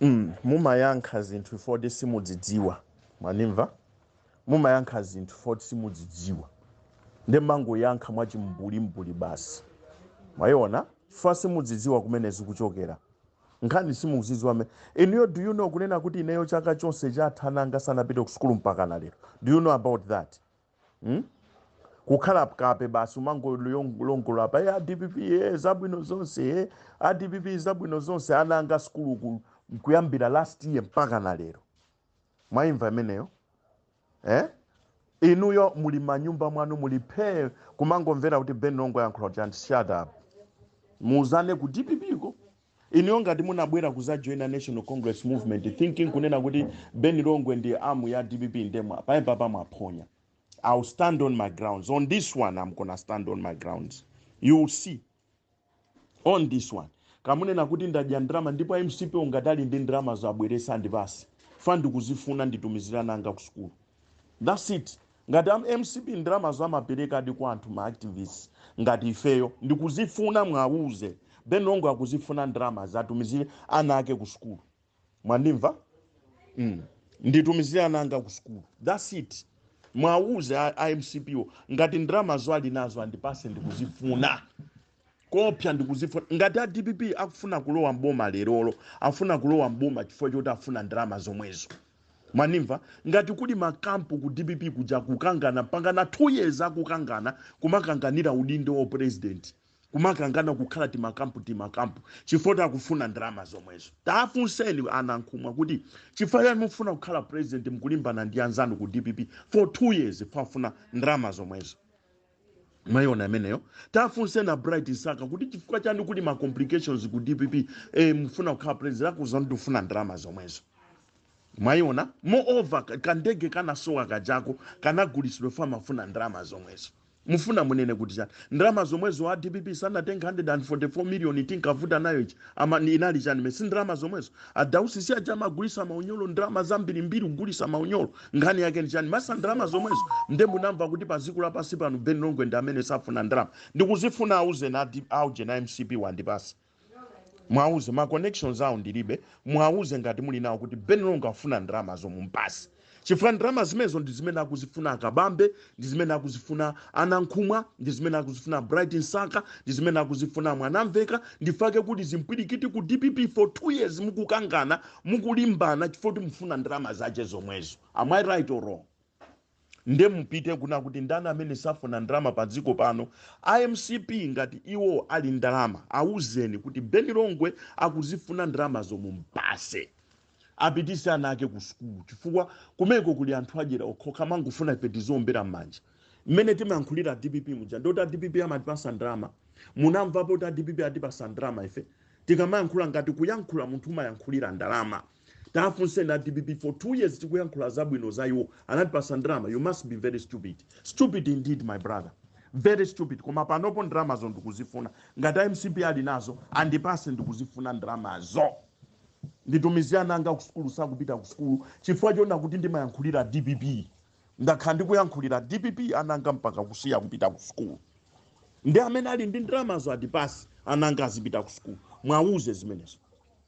mm, mumayankha zinthu zoti simudzidziwa mwanimva mumayankha zinthu zoti simudzidziwa nde mumangoyankha mwachimbulimbuli basi mwayiona chifukwa simudzidziwa kumene zikuchokera nkhani simuzidziwa me inuyo do you know kunena kuti ineyo chaka chonse chatha ana anga sanapite ku sukulu mpaka na lero do you know about that hmm? kukhala kape basi umangolongola pa dpp e zabwino zonse e a dpp zabwino zonse ana anga sukulu kuyambira last year mpaka na lero mwaimva imeneyo eh? inuyo muli manyumba mwanu muli phee kumangomvera kuti ben longwe ayankhula chani shut up muuzane ku dpp ko Inuyo ngati munabwera kuzajoina National Congress Movement thinking kunena kuti Ben Longwe ndi arm ya dpp nde mwa apapa mwaphonya. I'll stand on my grounds. On this one I'm gonna stand on my grounds. You will see on this one. Kamunena kuti ndadya ndalama ndipo a MCP ngati ali ndi ndalama azibweresa andipase. Fa ndikuzifuna nditumizire ana anga ku sukulu. That's it. Ngati a mcp ndalamazo amaperekadi kwa anthu ma activists ngati ifeyo ndikuzifuna mwauze Ben Longwe akuzifuna ndalamazi atumizire ana ake ku sukulu mwandimva mm. nditumizire ana anga ku sukulu that's it mwauze a, a mcp wo ngati ndalamazo ali nazo andipase ndikuzifuna Koopsa ndikuzifuna. Ngati a dpp akufuna kulowa m'boma lerolo, akufuna kulowa m'boma chifukwa choti akufuna ndalama zomwezo. Mwanimva? Ngati kuli makampu ku dpp kuja kukangana mpaka na 2 years akukangana kumakanganira udindo wa president, kumakangana kukhala timakampu timakampu chifukwa choti akufuna ndalama zomwezo. Taafunseni a Nankhumwa kuti chifukwa chani mukufuna kukhala president mukulimbana ndi anzanu ku dpp for 2 years chifukwa akufuna ndalama zomwezo. mwaiona imeneyo tafunseni a bright msaka kuti chifukwa chani kuli ma complications ku dpp eh, mfuna kukhala president akuuzani tifuna ndalama zomwezo mwaiona moreover ka- kandege kanasowa kajako kanagulisidwa fa amafuna ndalama zomwezo mufuna munene kuti chani ndalama zomwezo a dpp sanatenga 144 million tinkavuta nayo ichi ama ni- inali chani mesi ndalama zomwezo adausi si aja amagulisa ma uniform ndalama zambirimbiri kugulisa ma uniform nkhani yake ndi chani masa ndalama zomwezo nde munamva kuti pa dziko lapansi pano ben longwe ndi amene safuna ndalama ndikuzifuna auzeni adi- auje a mcp wo andipase mwauze ma connections awo ndilibe mwauze ngati muli nawo kuti ben longwe afuna ndalamazo mumpase chifukwa ndalama zimenezo ndi zimene akuzifuna akabambe ndi zimene akuzifuna a nankhumwa ndi zimene akuzifuna bright msaka ndi zimene akuzifuna mwanamveka ndi chifukwa chake kuti zimpwirikiti ku dpp for two years mukukangana mukulimbana chifukwa choti mufuna ndalama zache zomwezo am i right or wrong nde mupite kuna kuti ndani amene safuna ndalama pa dziko pano a mcp ngati iwo ali ndalama awuzeni kuti ben longwe akuzifuna ndalama zo mumpase apitise ana ake ku sukulu chifukwa kumeko kuli anthu adyera okhokha amangofuna ife tiziombera m'manja mmene timayankhulira dpp muja ndiye kuti a dpp amatipasa ndalama munamvapo kuti a dpp atipasa ndalama ife tikamayankhula ngati kuyankhula munthu umayankhulira ndalama tafunseni a dpp for two years tikuyankhula zabwino za iwo anatipasa ndalama you must be very stupid stupid indeed my brother very stupid koma panopo ndalamazo ndikuzifuna ngati a mcp ali nazo andipase ndikuzifuna ndalamazo Nditumizire ana anga kusukulu sakupita kusukulu chifukwa choona kuti ndimayankhulira dpp. Ndakhala ndikuyankhulira dpp ana anga mpaka kusiya kupita kusukulu. Nde amene ali ndi ndalamazo andipase ana anga azipita kusukulu. Mwauze zimenezo.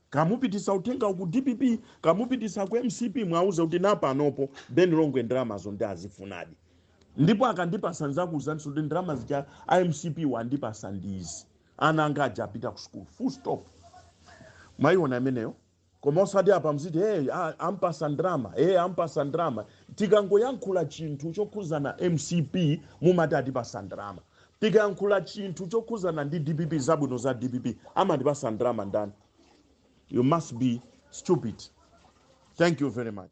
Kamupitisa uthengawo ku dpp, kamupitisa ku mcp mwauze kuti napanopo Ben Longwe ndalamazo ndikuzifunadi. Ndipo akandipasa ndidzakuuzaninso kuti ndalama zija a mcp wo andipasa ndi izi. Ana anga aja apita ku sukulu full stop mwayiona imeneyo koma osati apa muziti hey, ampasa ndrama hey, ampasa ndrama tikangoyankhula chinthu chokhuzana mcp mumati atipasa ndrama tikayankhula chinthu chokhuzana ndi dpp zabwino za dpp amatipasa ndrama ndani you must be stupid thank you very much